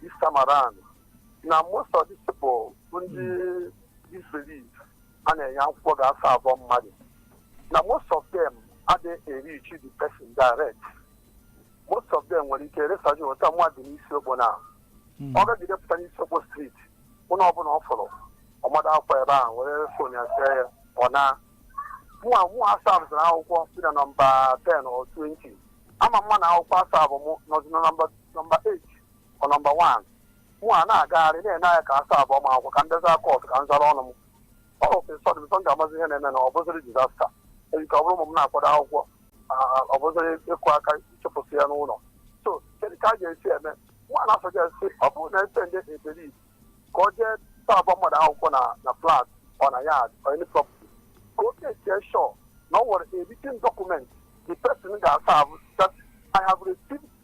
this time around na most of these people bụ ndị this bailiff a na-enye akwụkwọ gaa serve mmadụ na most of them adịghị reach the person direct most of them nwere ike resaji weta mmadụ n'isi okpo na ọ gagide pụta n'isi okpo street ụlọ ọbụla ọ fụrụ ọ mado akwụkwọ ebe ahụ were fon ya see ya ọ naa mụwa mụ a serve-zịrị akwụkwọ si na nọmba 10 or 20 ama ama na akwụkwọ a serve m nọzi na nọmba nọmba 8 or nọmba 1 mụ a na-agagharị na-ene anya ka a serve m akwụkwọ ka m jee zaa court ka m zara ọnụ m all of a sudden before m ga-amazi ihe na-eme na ọ bụzịrị disaster nwere ike ọ bụrụ ụmụ m na-akwado akwụkwọ ah, ọ bụzịrị ịkụ aka ịchụpụsị ya n'ụlọ so kedu ka a ga-esi eme mụwa na-asuggest ọ bụrụ na a sị ndị bailiff ka ọ jee serve mmadụ akwụkwọ na na flat or na yard or any property ka o make sure na ọ nwere a written document the person ga-asign bụ that I have received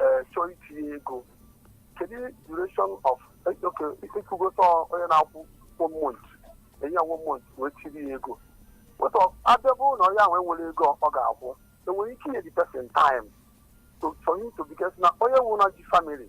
ee chọọ itinye ego kedu duration of okay ịkwụgota onye na-akwụ one month enye ya one month wee tiiri ya ego ụlọ ọ bịa bụrụ na onye ahụ enwerọ ego ọ ga-akwụ enwere ike inye the person time to for him to because na onye nwụrụ na ji family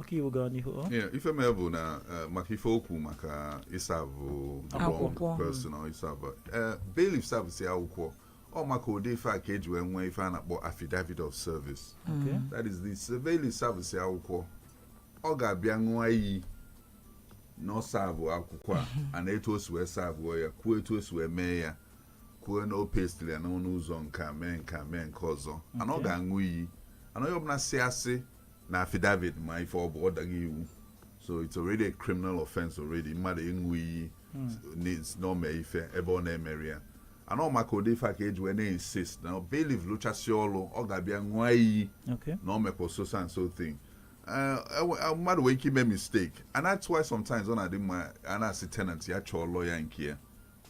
ọkaiwu gaa n'ihu ọ? Yeah, ife mee bụ na eh, maka ife okwu maka ịsavụ Akwụkwọ. personal ịsavụ Eh, bailiff savụsi akwụkwọ ọ maka ụdị ife a ka eji wee nwee ife a na-akpọ affidavit of service Okay. that is the s- bailiff savụsi akwụkwọ ọ ga-abịa ṅụọ iyi na ọ savụ akwụkwọ a a na etu o si wee savụọ ya kwuo etu o si wee mee ya kwuo na o pestiri ya n'ọnụ ụzọ nke a mee nke a mee nke ọzọ and ọ Okay. ga-aṅụ iyi and onye ọbụla si asị na affidavit ma ife ọ bụ ọ dago iwu so it's already a criminal offense already mmadụ ịṅụ iyi n'is- na o mee ife ebe ọ na-emerọ ya and ọ maka ụdị ife a ka eji wee na-insist na bailiff lụchasị ọrụ ọ ga-abịa ṅụọ iyi Okay. na o mekwa so so and so thing Eh, ewe- eh, mmadụ nwere ike ime mistake and that's why sometimes ọ na-adị mma a na-asị tenant ya chọọ lọya nke ya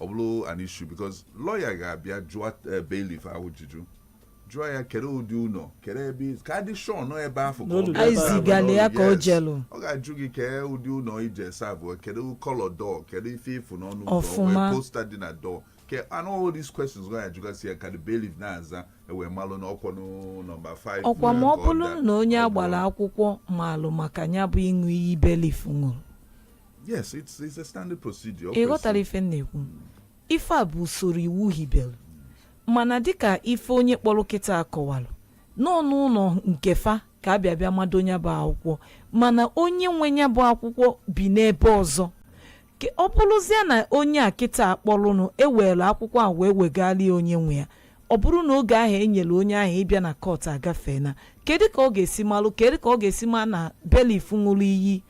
ọ bụrụ an issue because lọya ga-abịa jụọ eh, bailiff ajụjụ jụọ ya kedu ụdị ụlọ kedu ebe ị- ka a dị shọ na ọ ebe afụ ka ọ Na o lulu ga-ebe ebe ahụ. ahụ. E zigala ya ka o Yes. jelu. ọ ga-ajụ gị kee ụdị ụlọ ị je savụọ kedu kọlọ dọọ kedu ife ị fụ n'ọnụ ụzọ Ọfụma. wee posta dị na dọọ okay and all these questions ga-ajụgasị ya ka the bailiff na-aza ewee malụ na ọ kwanụ nọmba 5 ọkwa ma ọ bụrụ na onye agbala akwụkwọ maalụ maka ya bụ ịṅụ iyi bailiff ṅụrụ yes it's, it's a standard procedure ọ ị ghọtara kwesịrị. ife m na-ekwu ife a bụ usoro iwu hibelu mana dịka ife onye kpọrọ kịta kọwalụ na ọ n'ụlọ nke fa ka a bịa bịa mado ya bụ akwụkwọ mana onye nwe ya bụ akwụkwọ bi n'ebe ọzọ Ke- ọ bụrụzie na onye a kịta kpọrọnụ ewere akwụkwọ a wee wegara ya onye nwe ya ọ bụrụ na oge ahụ enyere onye ahụ ịbịa na kọt agafeena kedu ka ọ ga-esi malụ kedu ka ọ ga-esi ma na bailiff ṅụrụ iyi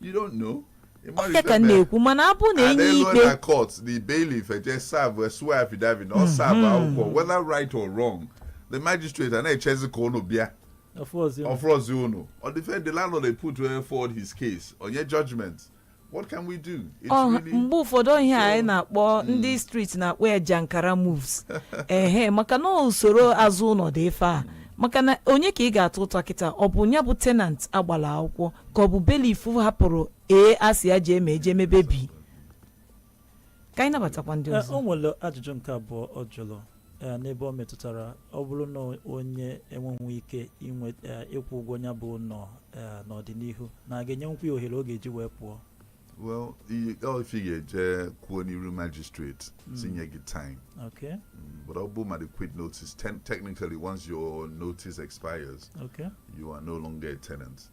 You don't know. ọ ya ka m na-ekwu mana abụ na enye ikpe na court the bailiff eje serve swear affidavit na ọ mhm. serve akwụkwọ whether right or wrong the magistrate a na-echezi ka unu bịa ọ fụrọzi unu ọ dịfe the landlord dey put eh, forward his case o nye judgment what can we do oh, mgbe ụfọdụ ihe anyị na-akpọ hmm. ndị street na-akpọ ya jankara moves ehe maka na usoro azụ ụlọ dị ife a hmm. maka na onye ka ị ga-ata ụta kịta ọ bụ ya bụ tenant agbala akwụkwọ ka ọ bụ bailiff hapụrụ A a sị ya jee mee jee mebe B ka anyị nabatakwa ndị ọzọ o nwere ajụjụ nke abụọ ọ jụrụ n'ebe ọ metụtara ọ bụrụ na onye enweghị ike ịkwụ ụgwọ ya bụ ụnọ n'ọdịnihu na a ga-enyekwu ya ohere ọ ga-eji wee pụọ well if ị ga-eje kwuo n'iru magistrate hmm. sị nye gị time okay hmm, but ọ bụ ma the quit notice technically once your notice expires okay you are no longer a tenant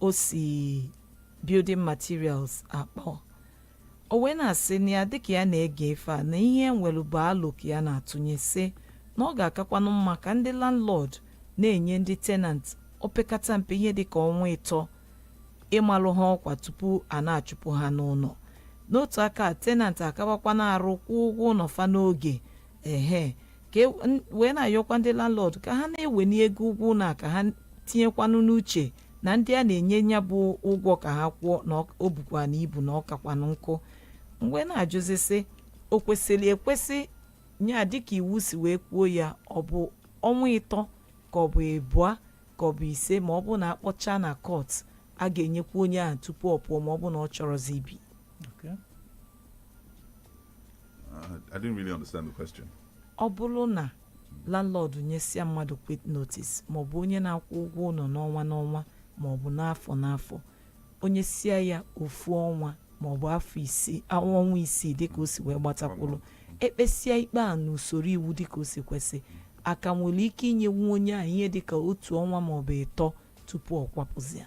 o si building materials akpọ o wee na-asị na ya dịka ya na-ege ife a na ihe nwere bụ alo ka ya na-atụnye sị na ọ ga-akakwanụ mma ka ndị landlord na-enye ndị tenant opekata mpe ihe dịka ọnwa ịtọ ịmalụ ha ọkwa tupu a na-achụpụ ha n'ụnọ n'otu aka tenant akabakwa na-arụ kwụọ ụgwọ ụnọ fa n'oge ehe ka e- n- wee na-ayọkwa ndị landlord ka ha na-eweni ego ụgwọ ụnọ a ka ha tinyekwanụ n'uche na ndị a na-enye nya bụ ụgwọ ka ha kwụọ na ọ- o bukwa na ibu na ọ kakwanụ nkụ wee na-ajụzi sị o kwesịrị ekwesị nya dịka iwu si wee kwuo ya ọ bụ ọnwa ịtọ ka ọ bụ ịbụa ka ọ bụ ise ma ọ bụ na akpọcha na court a ga-enyekwa onye ahụ tupu ọ pụọ ma ọ bụ na ọ chọrọzi ibi Okay. I didn't really understand the question. ọ bụrụ na landlord nyesịa mmadụ quit notice maọbụ onye na-akwụ ụgwọ ụnọ n'ọnwa n'ọnwa maọbụ n'afọ n'afọ o nyesịa ya ofu ọnwa maọbụ afọ isii ọnwa isii dịka o si wee gbatakwụrụ e kpesịa ikpe a n'usoro iwu dịka o si kwesị a ka nwere ike inyekwu onye ahụ ihe dịka otu ọnwa maọbụ ịtọ tupu ọ kwapụzia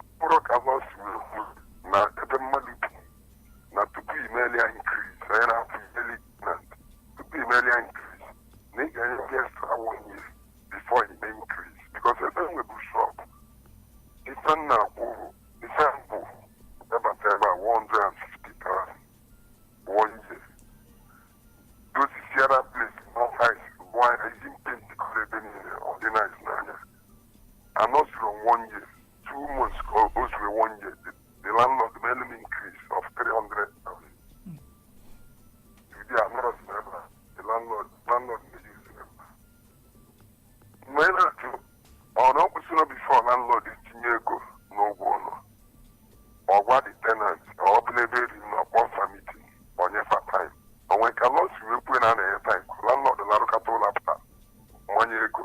mkpụrụ ka bụ si wee kwuo na ebe mmadụ bi na tupu imeli ya increase anyị na-apụ imeli na tupu imeli ya increase na ị ga-enye ndị extra one year before ime increase because ebe m nwebu shop ife nna kwuru ife mbụ ebata ebe a 150,000 one year dozisiara place more ice bụ anya eji m paint kụrụ ebe niile ọ dị nice n'anya anọzuru one year two months ka o o zuru one year the, the landlord melụ m increase of 300,000 ndị a nọrọ si n'ebe a the landlord landlord na-eji si n'ebe a mgbe ị na-ajụ ọ na o kwesịrị before landlord etinye ego n'ụgwọ ụnọ ọ gwa the tenant ka ọ bụ n'ebe eri na ọ kpọọ fa meeting o nye fa time o nwere ka law si wee kwuo na any time landlord larụkata ụla apụta mmanye ego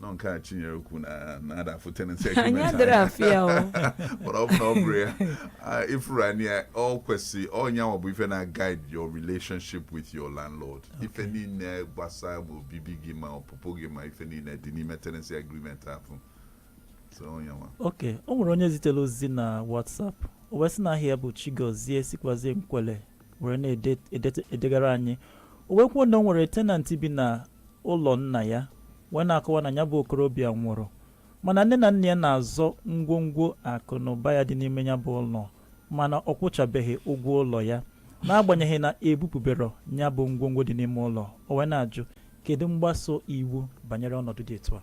nọ nke a chinyere ukwu na na-ada afụ tenancy agreement adịrị anya. afụ ya o mana ọ bụ na ọ bụrụ ya ah, ịfụrụ anyị ya ọ kwesị ọ nya nwa bụ ife na-guide your relationship with your landlord ife niile gbasara ma obibi gị ma ọpụpụ gị ma ife niile dị n'ime tenancy agreement ahụ so ọ nya nwa okay o nwere onye zitere ozi na whatsapp o wee sị na aha ya bụ chigozie sikwazie nkwelle were na-edegara anyị o wee kwuo na o nwere tenant bi na ụlọ nna ya wee na-akọwa na nya bụ okorobịa nwụrụ mana nne na nna ya na-azọ ngwongwo akụ na ụba ya dị n'ime nya bụ ụlọ mana ọ kwụchabeghị ụgwọ ụlọ ya n'agbanyeghị na e bupụberọ nya bụ ngwongwo dị n'ime ụlọ o wee na-ajụ kedu mgbaso iwu banyere ọnọdụ dị etu a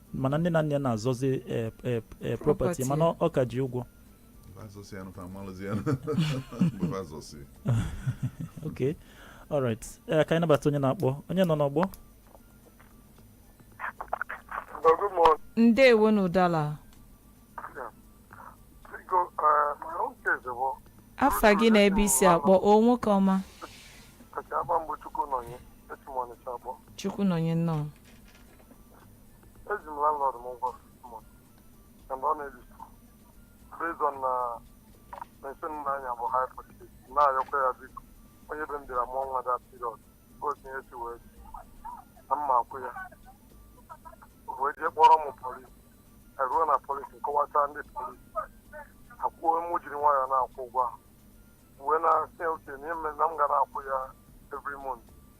mana nne na nne na-azọzi eh, eh, eh, property mana ọ ka ji ụgwọ ok alright ka anyị nabata onye na-akpọ onye nọ n'ọgbọ ndewo n'Udala afa gị na ebe i si akpọ o nwoke ọma Chukwunọnye nnọọ eji m landlord m ụgwọ month and ọ na-ebi based on na meshin na-anya bụ hire purchase na-ayọkwa ya biko onye be m bịara mụọ nwa that period gosi ihe si wee na m ma-akwụ ya wee jee kpọrọ m polis eruo na polis m kọwachaa ndị polis ekwuo mụ jiri nwayọọ na-akwụ ụgwọ ahụ wee na-asị okay na ihe mere na m ga na-akwụ ya every month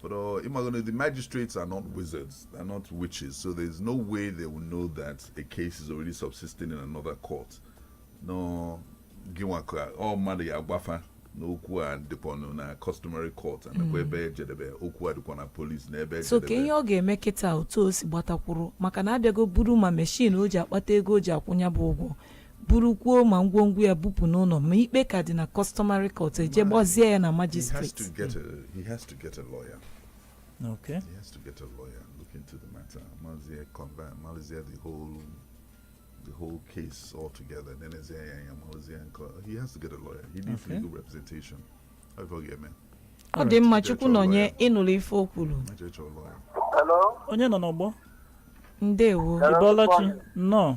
But uh, the magistrates are not wizards, they're not witches, so there's no way they will know that a case is already subsisting in another court. No, ọ mmadụ ya-agwa fa na okwu a dịkwanụ na customary court nakwa mm. ebe ejedebe okwu a dịkwa na polis na ebe so kee ihe ọ ga-eme kịta otu o si gbatakwuru maka na abịago buru ma meshin o ji akpata ego o ji akwụ nya bụ ụgwọ burukwuo ma ngwongwo ya bupụ n'ụlọ ma ikpe ka dị na customary court e jee gbazie ya na magistrate Okay. He has to get a lawyer and look into the matter. Mazie combine, Mazie the whole, the whole case altogether. Then it's Mazie and he has to get a lawyer. He needs okay. legal representation. Ife ọ ga-eme. Ọ dị mma Chukwunọnye ị nụrụ ife o kwuru. Onye nọ n'ọgbọ? Ndewo. Ị bọla chi, nnọọ.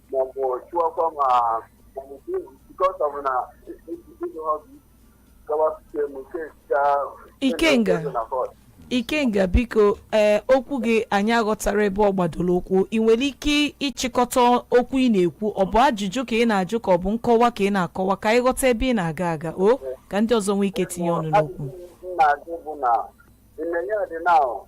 maọbụ chụọkwa ma maọbụ because ọ bụ na ịdụ ha bụ gawa site m nke ga Ikenga. na kọt ikenga biko ee okwu gị anyị aghọtarọ ebe ọ gbadoro ụkwụ ị nwere ike ịchịkọta okwu ị na-ekwu ọ bụ ajụjụ ka ị na-ajụ ka ọ bụ nkọwa ka ị na-akọwa ka anyị ghọta ebe ị na-aga aga o ka ndị ọzọ nwee ike tinye ọnụ n'okwu na-ajụ bụ na in the yard now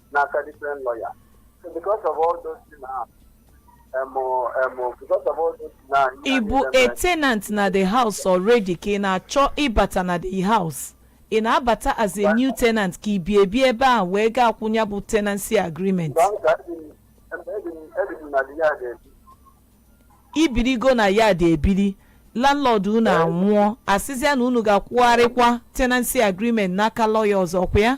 n'aka different lawyer so because of all those things na emo emo because of all those things na ị bụ a tenant na the house already ka ị na-achọ ịbata na the house ị na-abata as a new tenant ka i bi ebi ebe ahụ wee ga-akwụ nya bụ tenancy agreement i birigo na yard ebiri landlord unu anwụọ asịzịa na unu ga-akwụgharịkwa tenancy agreement n'aka lọya ọzọ kwa ya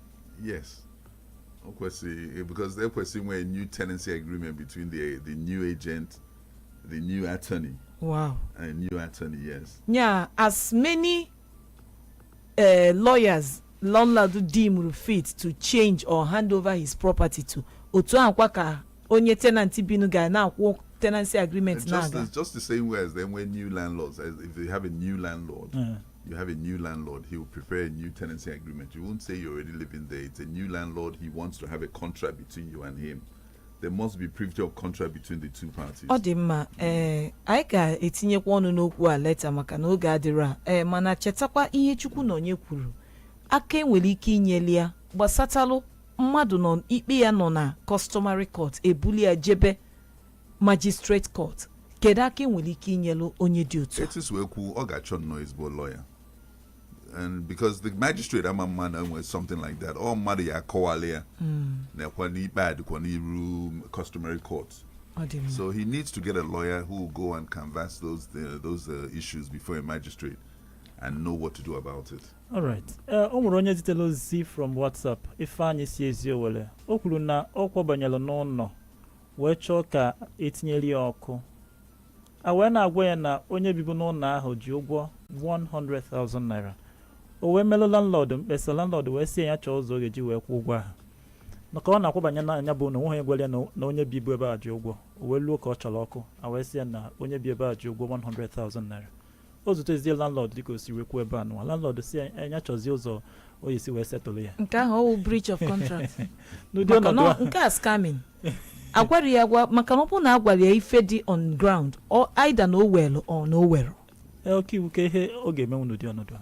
Yes. O kwesịrị because there kwesịrị nwee new tenancy agreement between the the new agent, the new attorney, wow and new attorney. Yes. yeah as many uh, lawyers landlord deemed fit to change or hand over his property to otu akwa ka onye tenant binu ga na-akwụ tenancy agreement Just, na-aga it's just the same way as then when new landlords, as if they have a new landlord, Yeah. you have a new landlord, he will prepare a new tenancy agreement. You won't say you're already living there. It's a new landlord. He wants to have a contract between you and him. There must be privity of contract between the two parties. ọ dị mma ee anyị ga-etinyekwa ọnụ n'okwu a leta maka na oge adịrọ a ee mana chetakwa ihe chukwunọnye kwuru aka enwere ike inyeli ya gbasatalụ mmadụ nọ ikpe ya nọ na customary court ebuli ya jebe Magistrate Court kedu aka enwere ike inyelu onye dị otu a? etu o si wee kwuo ọ ga-achọ nnọọ ezigbo lawyer and because the magistrate ama ama na enwere something like that ọ mmadụ ya-akọwalụ ya na-ekwe n'ikpe a dịkwa n'iru customary court Ọ dị mma. so he needs to get a lawyer who will go and canvass those uh, those uh, issues before a magistrate and know what to do about it alright ee o nwere onye zitere ozi from whatsapp ifeanyị si eziowelle o kwuru na ọ kwabanyere n'ụlọ wee chọọ ka etinyere ya ọkụ a wee na-agwa ya na onye bibu n'ụlọ ahụ ji ụgwọ 100,000 naira o wee melụ landlord mkpesa landlord wee sị ya chọọ ụzọ ọ ga-eji wee kwụ ụgwọ ahụ na ka ọ na-akwabanye na nya bụ ụnọ onweghị onye gwara ya na onye bibu ebe a ji ụgwọ o wee luo ka ọ chọrọ ọkụ a wee sị ya na onye bi ebe a ji ụgwọ 100,000 naira o zutezie landlord dịka o si wee kwuo ebe a nụwa landlord sị ya nya chọzie ụzọ ọ ya-esi wee settle ya nke ahụ ọ wụ breach of contract n'ụdị maka ọnọdụ na a nke a scamming agwarọ ya agwa maka na ọ bụrụ na agwara ya ife dị on ground ọ either na o were or na o werọ ee, ọkaiwu kee ihe ọ ga-emenwu n'ụdị ọnọdụ a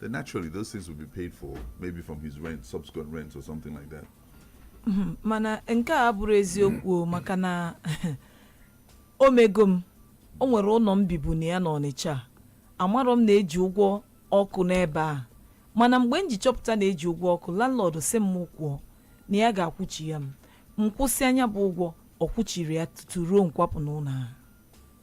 then naturally those things will be paid for maybe from his rent, subsequent rent or something like that. Mhm. mana nke a abụrụ eziokwu o, maka na o mego m o nwere ụlọ m bibu na ya n'ọnịcha amarọ m na eji ụgwọ ọkụ n'ebe a mana mgbe m ji chọpụta na eji ụgwọ ọkụ landlord sị m mụ kwụọ na ya ga-akwụchi ya m m kwụsịa nya bụ ụgwọ ọ kwụchirọ ya tutu ruo m kwapụ n'ụlọ ahụ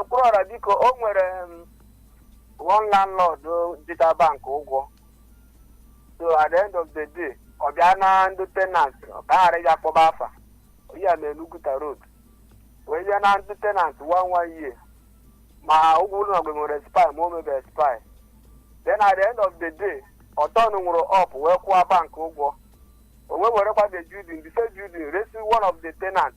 okwuruọra biko o nwere one landlord jita bank ụgwọ so at the end of the day ọ bịa na ndị tenant ọ ka ghara ịga kpọba afa ya na oguta road wee bịa na ndị tenant one one year ma ụgwọ ụlọ gị mere expire ma o mebe expire then at the end of the day ọ turnụrụ up wee kwụọ bank ụgwọ o wee werekwa the building the same building resi one of the tenants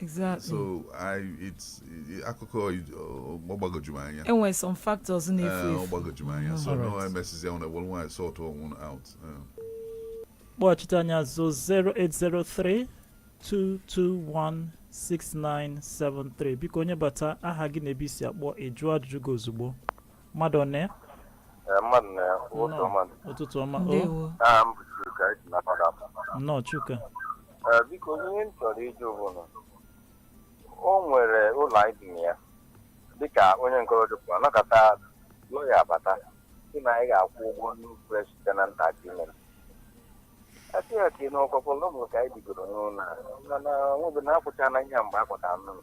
exactly so I it's it- akụkọ ọ gbagojuru m anya enwere some factors na-efu Eh, ọ efu gbagojuru m anya so no Alright. emesizi ahụ na were nwaanyị sort ọnwụ out Eh. kpọghachite anyị azụ 0803 221 6973 biko onye bata aha gị na ebe i si akpọ ị jụọ ajụjụ gị ozugbo mmadụ one ya Ee, mmadụ na ya ụtụ Nnọọ. ọma ụtụtụ ọma o ndewo aha m bụ Chuka esi na Padap. nnọọ Chuka Ee, biko ihe m chọrọ ịjụ bụ na o nwere ụlọ anyị bi na ya dịka onye nke ọdụpụ anakọta lọya abata sị na anyị ga-akwụ ụgwọ new fresh tenant agreement a sị ya ka ị n'ọkọkọ lọbụ ka anyị bigoro n'ụlọ a mana nwobe na-akwụcha na ihe mgbe a kwụtara n'ụlọ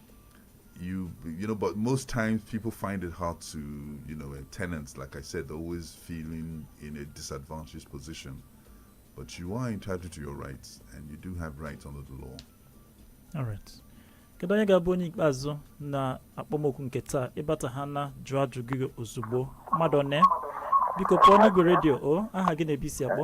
you you know but most times people find it hard to you know and tenants like i said always feeling in a disadvantaged position but you are entitled to your rights and you do have rights under the law all right kedu onye ga-abụ onye ikpeazụ na akpọmoku nke taa ị bata ha na jụọ ajụjụ gị ozugbo mmadụ one biko pụọ n'igwe redio o aha gị na ebe i si akpọ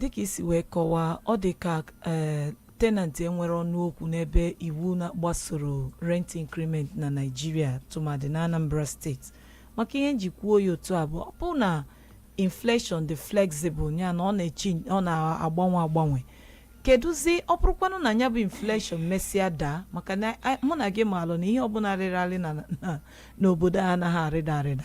dịka i si wee kọwaa ọ dị ka ee tenant enwerọ ọnụ okwu n'ebe iwu na-gbasoro rent increment na Naịjirịa tụmadị na Anambra steeti maka ihe m ji kwuo ya otu a bụ ọ bụ na inflation dị flexible ya na ọ na-echi ọ na-agbanwe agbanwe kedụzi ọ bụrụkwanụ na ya bụ inflation mesịa daa maka na a- mụ na gị maalụ na ihe ọbụla rịrị arị na- na- n'obodo a anaghị arịda arịda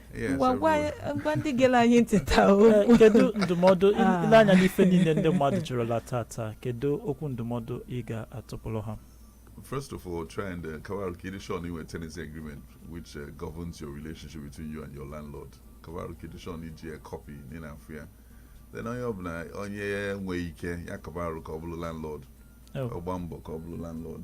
Yes, ngwa ngwa everyone. ngwa ndị gere anyị ntị taa Eh, okwu kedu ndụmọdụ Ah. i lee anya n'ife niile ndị mmadụ jụrụla tata kedu okwu ndụmọdụ ị ga-atụpụrụ ha First of all, try and uh, ka ọ bụrụ ka ị dị sure na i nwe tenancy agreement which uh, governs your relationship between you and your landlord. Ka ọ bụrụ ka ị dị sure na i ji a copy ị na-afụ ya. Then onye ọbụla onye nwee ike ya ka ọ bụrụ ka ọ bụrụ landlord. Oh. Ọ gbaa mbọ ka ọ bụrụ landlord.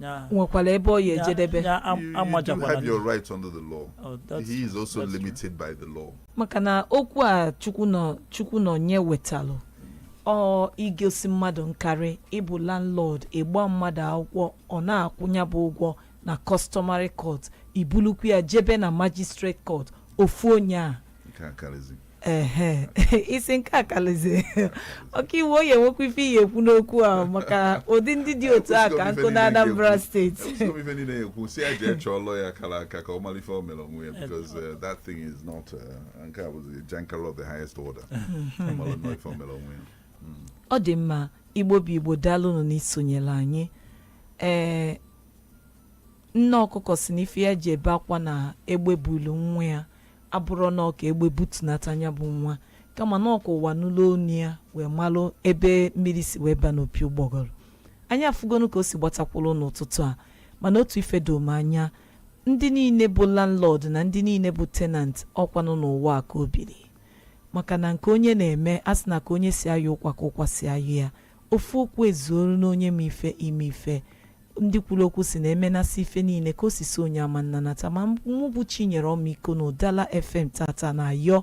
Yeah. nwekwara ebe ọ ya Yeah, ejedebe yeah, am- You, you do amajakwana have your rights under the law. Oh, that's He is true. also That's true. limited by the law. maka na okwu a Chukwunọ Chukwunọnye wetalụ ọ igosi mmadụ nkarị ị bụ landlord ị gba mmadụ akwụkwọ ọ na-akwụ nya bụ ụgwọ na customary court i bulukwu ya jebe na magistrate court ofu onye a nke a karịzi ehe isi nke a kalizi ọkaiwu onye nwekwa ife ị ya-ekwu n'okwu a maka ụdị ndị dị otu a ka nọ na Anambra steeti Ekwusigo m ife niile ya-ekwu sị ya jee chọọ lọya kara aka ka ọ mara ife o mere onwe ya because uh, that thing is not uh, nke a bụzi jankara of the highest order ọ mara nnọọ ife o mere onwe ya ọ dị mma Igbo bụ Igbo daalụnụ n'isonyere anyị ee nne ọkụkọ sị na ife ya ji ebe akwa na egbe bulu nwa ya abụrọ na ọ ka egbe butunata nya bụ nwa kama na ọ ka ụwa nụlụ onu ya wee malụ ebe mmiri si wee ba n'opi ụgbọgọrọ anyị afụgonụ ka o si gbatakwụrụ n'ụtụtụ a mana otu ife do m anya ndị niile bụ landlord na ndị niile bụ tenant ọ kwanụ n'ụwa a ka o biri maka na nke onye na-eme a sị na ka onye si ayọ ụkwa ka ụkwa si ayọ ya Ofu okwu ezuoru n'onye ma ife ime ife. Ndị kwuru okwu sị na emenasị ife niile ka o si so onye ama nnanata ma mụ bụ Chinyere Ọmịiko na Ụdala FM taata na-ayọ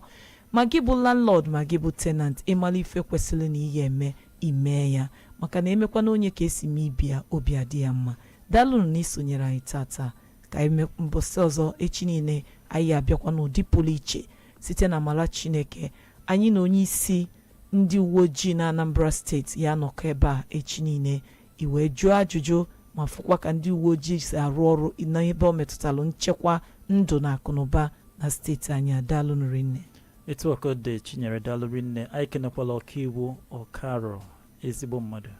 ma gị bụ landlord ma gị bụ tenant ị mara ife kwesịrị na ị ya-eme ị mee ya maka na emekwana onye ka esi mee ibe ya obi adị ya mma. Daalụnụ na ị sonyere anyị taata. Ka anyị me mbọsị ọzọ echi niile anyị ya-abịakwa n'ụdị pụrụ iche site na amara Chineke. Anyị na onye isi Ndị uweojii na Anambra steeti ya-anọkọ ebe a echi niile i wee jụọ ajụjụ ma fụkwa ka ndị uweojii si arụ ọrụ n'ebe ọ metụtalụ nchekwa ndụ na akụnụba na steeti anyị daalụnụ rinne etu a ka ọ dị chinyere daalụ rinne anyị kenekwala ọkaiwu Okaro ezigbo mmadụ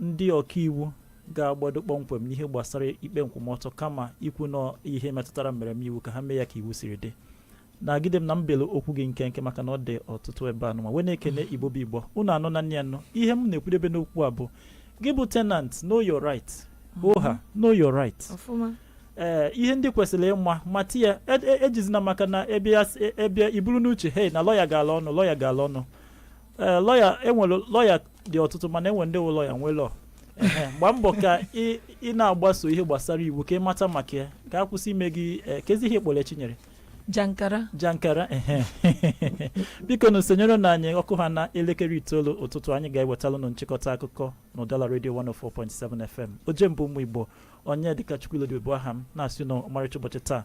ndị ọkaiwu ga-agbado kpọmkwem n'ihe gbasara ikpe nkwụmọtọ kama ikwu na ihe metụtara mmereme iwu ka ha mee ya ka iwu siri dị nagide m na m belụ okwu gị nkenke maka na ọ dị ọtụtụ ebe anụ ma wee na-ekene igbo bụ igbo unu anọ na nne ya nọ ihe m na-ekwudebe n'okwu a bụ gị bụ tenant know your right oha mhm. know your right ee eh, ihe ndị kwesịrị ịma mata ya ejizina e, e maka na ebe i buru n'uche hey na lọya gala ọnụ lọya gala ọnụ ee eh, lọya enwere lọya dị ọtụtụ mana enwe ndị lọya nwe lọ Ehe, gbaa mbọ ka ị ị na-agbaso ihe gbasara iwu ka ị mata maka ya ka a kwụsị ime gị eh, kezi ihe kpọrọ chinyere jankara jankara ehe. bikonụ sonyerenụ anyị ọ kụha na elekere itoolu ụtụtụ anyị ga-ewetalụ unu nchịkọta akụkọ na ụdala redio 104.7 fm oje mba ụmụ igbo Onyedịkachukwu Ilodibe bụ aha m na-asị na ọmarịcha ụbọchị taa